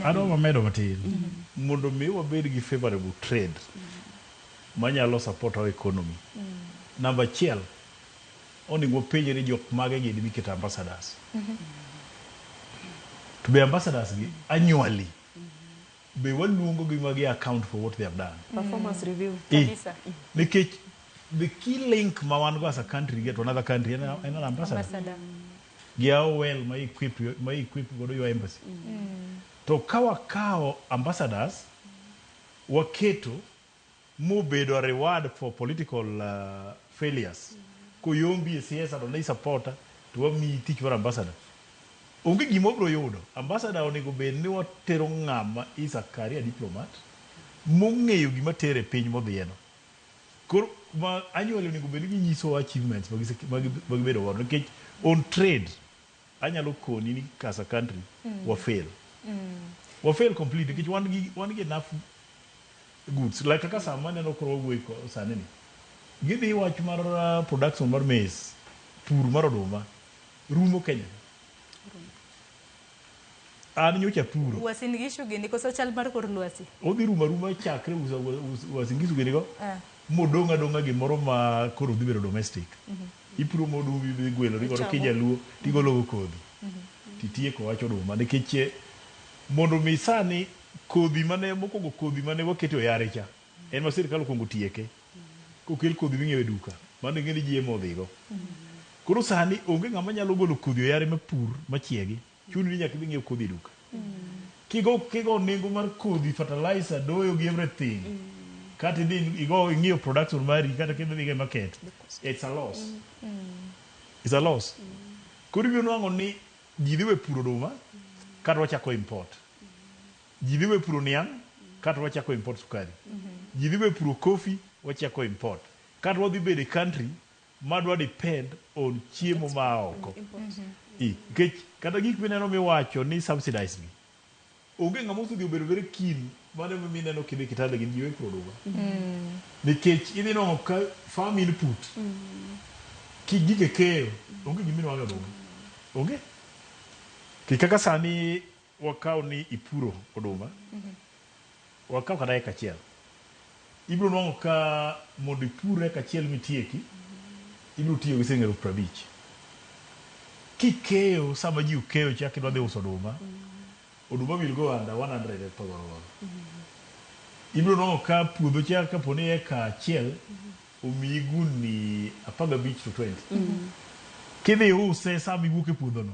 Adwa wamedo matin. Mondo mi wabed gi favorable trade manyalo support our economy. Namba achiel, onego wapenje ni jok mage gini miketo ambassadors. To be ambassadors gi annually be waluongo gi magi account for what they have done. Performance review. Eh, Kabisa. Nikech the key link ma wan go as a country get to another country en en an ambassador. Ambassador. gi AOL ma equip ma equip godo your embassy. To ka wakawo ambassadors waketo mobedo reward for political failures koyombi e siasa to ne i support to wamiyi tich mar ambassador onge gima wabiro yudo. Ambassador onego bed ni watero ng'ama is a career diplomat mong'eyo gima tere e piny modhiyeno. Koro ma anyuola onego bed ni ginyisowa achievements ma gise ma gi- ma gibedo godo nikech on trade anyalo koni ni as a country wa fail. Wa fail completely nikech wan gi wan gi enough goods like kaka sama aneno koro wawuoyo ko- sani ni. Gidhi wach mar uh, production mar maize, pur mar oduma rumo Kenya. An nyocha apuro. Uasin Gishu gini koso chal mar kor lwasi? Odhi rumo aruma chakre usa- us- Uasin Gishu gini go Eh. modong' adong'a gimoro ma koro dhi bedo domestic. Ipuro modumbi idhi gwelori godo Ichamo. kijaluo tigologo kodhi titieko wach oduma nikech eh, mondo mi sani kodhi mane mokwongo kodhi mane waketo e yare cha en ma sirkal okwongo tieke. Kokel kodhi ming'iewo e duka, mano ing'e ni ji ema odhigo. Koro sani onge ng'ama nyalo golo kodhi oyare mapur machiegi, chuni ni nyaka idhi ing'iew kodhi e duka. Kigo kigo nengo mar kodhi, fertilizer, doyo gi everything, kata idhi igo ing'iew production mari kata kidhi idhigo e market, it's a loss. It's a loss. Koro ibiro nwang'o ni ji dhi we puro oduma, kata wachako import. Ji dhi we puro niang' kato wachako import sukari. Ji dhi we puro coffee wachako import. Kato wadhi bedo e country ma dwa depend on chiemo ma a oko. Nikech kata gik mineno miwacho ni subsidized gi, onge ng'ama osedhi obedo very keen mano e momiyo ineno kidhi Kitale gin ji we puro oduma. Nikech idhi nwang'o ka farm input ki gige keyo onge gima inuang'o e oduma. Onge. Nikech kaka sani. Wakaw ni ipuro oduma, wakaw kata eka achiel. Ibiro nwang'o ka mondo ipur eka achiel mitieki, ibiro tiyo gi siling' elufu piero abich. Kikeyo sama ji okeyo cha kidwa dhi uso oduma, oduma will go under one hundred e thogoro godo. Ibiro nwang'o ka puodho cha kapo ni eka achiel omiyi gundni apar gabich to twenty. Kidhi iuse sama iwuok e puodhono,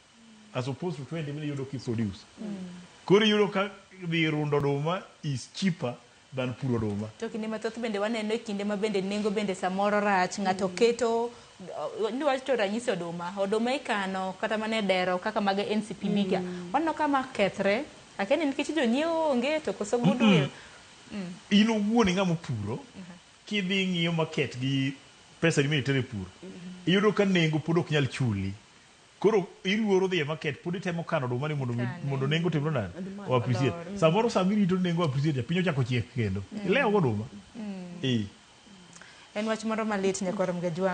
as opposed to 20 mine yudo kiproduce koro iyudo ka dhi rundo oduma is cheaper than puro oduma To kinde mathoth bende waneno e kinde ma bende nengo bende samoro rach, ng'ato keto uh, ni wacho ranyisi oduma, oduma ikano kata mana e dero kaka mag NCPB ka. Waneno ka ma kethre, akia ni nikech jonyiewo onge to koso goodwill. in owuon ing'ama opuro kidhi ing'iyo market gi pesa ni mitero e pur iyudo ka nengo pod ok nyal chuli Koro iluoro dhi e market pod itemo kano oduma ni mondo Ikane. mondo nengo otimre nade? Oduma O appreciate. odor. Mm. Samoro sama irito ni nengo o appreciate piny ochako chiek kendo. Ilewo go oduma. Ee. En wach moro malit nyakwar Mgajwang'.